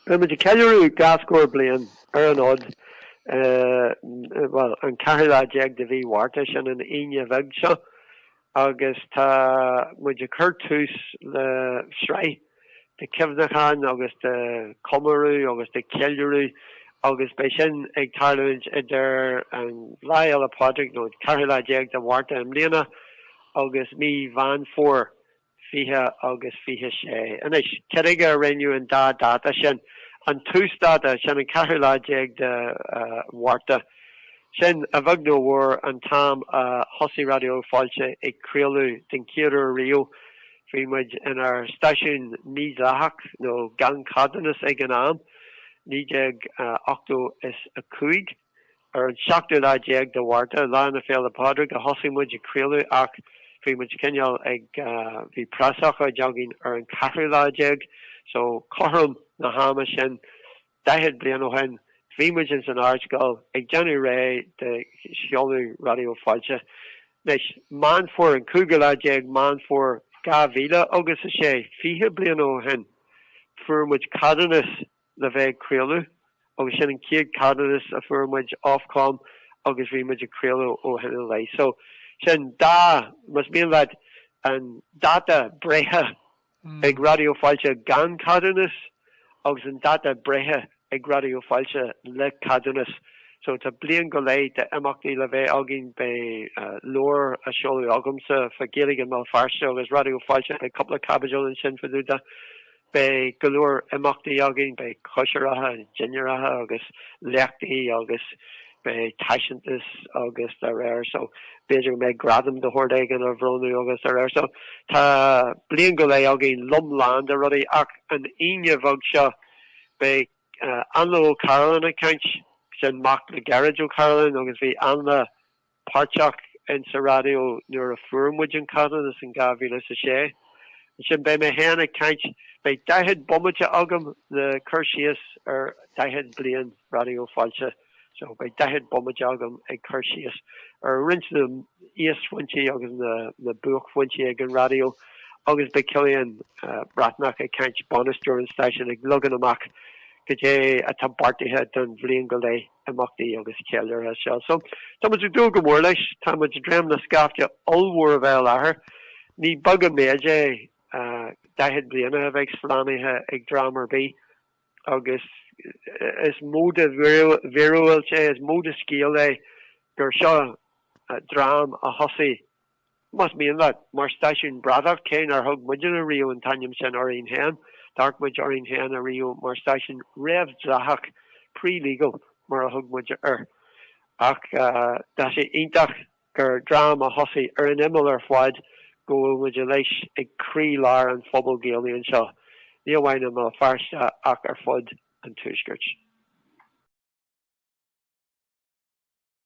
Beidh muid ag ceiliúradh dhá scór bliain ar an fhód, bhuel, an 14 lá de mhí Mhárta, sin an Aoine bheag seo, agus tá muid ag cur tús le sraith de chuimhneacháin agus de chomóradh agus de cheiliúradh agus beidh sin ag tarlú idir an Lá Fhéile Pádraig, nó an 14 lá de Mhárta i mbliana, agus mí Mheán Fómhair 20 agus 26. Anois, cad chuige a roghnaíodh an dá dháta sin? An tús-dáta, sin an 14 lá de Mhárta, sin, a bheag nó a mhór, an t-am a thosaigh Raidió Fáilte ag craoladh den chéad uair riamh. Bhí muid inár stáisiún mídhleathach, nó gan ceadúnas ag an am, 1985. Ar an seachtú lá déag de Mhárta, Lá na Féile Pádraig, a thosaigh muid ag craoladh ach bhí muid cineál ag, bhí preasócáid againn ar an ceathrú lá déag so cothrom na hama sin daichead bliain ó shin bhí muid ins an Ardscoil ag déanamh réidh de sheoladh Raidió Fáilte. Anois, Meán Fómhair, an cúigiú lá déag Meán Fómhair dhá mhíle agus a sé, fiche bliain ó shin, fuair muid ceadúnas le bheith ag craoladh agus sin an chéad cheadúnas a fuair muid Ofcom agus bhí muid ag craoladh ó shin i leith. So sin dá, más mian leat, an dáta breithe ag Raidió Fáilte gan ceadúnas agus an dáta breithe ag Raidió Fáilte le ceadúnas. So tá bliain go leith d'imeachtaí le bheith againn, beidh leabhar á seoladh agamsa fá Ghaeilge Bhéal Feirste agus Raidió Fáilte, beidh cúpla caibidil ansin fá dtaobh de. Beidh go leor imeachtaí againn, beidh cóisireacha, dinnéaracha agus léachtaí agus beidh taispeántas agus dá réir so b'fhéidir go mbeidh gradam de shórt éigin á bhronnadh agus dá réir. So tá bliain go leith againn lom lán de rudaí ach an Aoine bheag seo beidh Ainle Ó Cairealláin ag caint, sin mac le Gearóid Ó Cairealláin agus bhí Ainle, páirteach insa raidió nuair a fuair muid an ceadúnas in dhá mhíle is a sé. Ansin beidh mé féin ag caint, beidh daichead bomaite agam le cur síos ar daichead bliain Raidió Fáilte, so beidh daichead bomaite agam ag cur síos ar roinnt de na híosphointí agus na na buaicphointí ag an raidió agus beidh Cillian Breathnach ag caint, bainisteoir an stáisiúin, ag leagan amach cad é atá beartaithe don bhliain go leith. imeachtaí agus ceiliúrtha seo. So, tá muid ag dúil go mór leis. Tá muid ag dréim le scaifte ollmhór a bheith i láthair. Ní beag an méid é, daichead bliain a bheith slánaithe ag dream ar bith agus is mó de mhíorúilt é, is mó de scéal é gur seo dream a thosaigh, Más mian leat, mar stáisiún bradach, cé nár thug muidinne riamh an t-ainm sin orainn féin, d'amharc muid orainn féin ariamh mar stáisiún réamhdhleathach, pre-legal, mar a thug muid air. Ach tá sé iontach gur dream a thosaigh ar an imeall ar fad go bhfuil muid anois ag croí-lár an phobail Ghaelaigh anseo, ní amháin i mBéal Feirste ach ar fud an tuaiscirt.